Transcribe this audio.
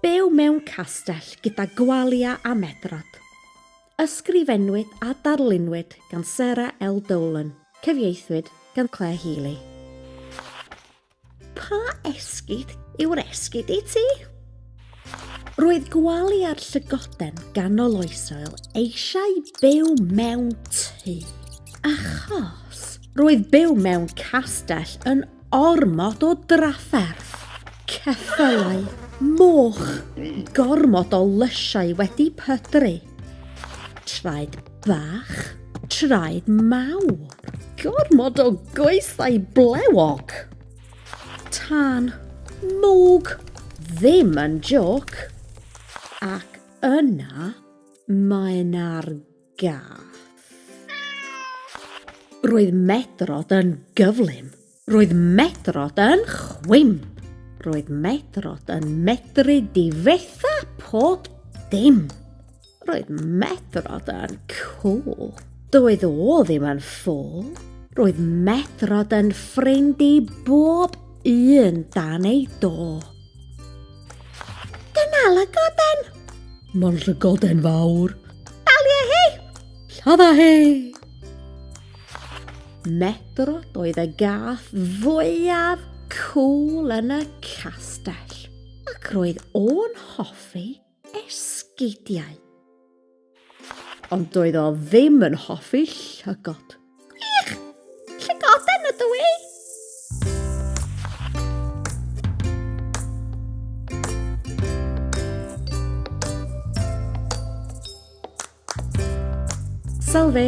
Byw mewn castell gyda gwalia a medrad. Ysgrifennwyd a darlunwyd gan Sarah L. Dolan, cyfieithwyd gan Claire Healy. Pa esgid yw'r esgid i ti? Roedd gwely ar llygoden ganol oesoel eisiau byw mewn tŷ. Achos roedd byw mewn castell yn ormod o drafferth. Ceffylau, moch, gormod o lysiau wedi pydru. Traed bach, traed mawr. Gormod o goesau blewog. Tân mwg ddim yn joc. Ac yna mae 'na'r gath. Roedd Medrod yn gyflym. Roedd Medrod yn chwim. Roedd Medrod yn medru difetha pob dim. Roedd Medrod yn cool. Doedd o ddim yn ffôl. Roedd Medrod yn ffrind i bob un dan ei do. Dyna lygoden! Mae'n llygoden fawr. Dalia hi! Lladda hi! Medrod oedd y gath fwyaf cool yn y castell ac roedd o'n hoffi esgidiau. Ond doedd o ddim yn hoffi llygod. Gwych! Llygoden ydw i! Salve!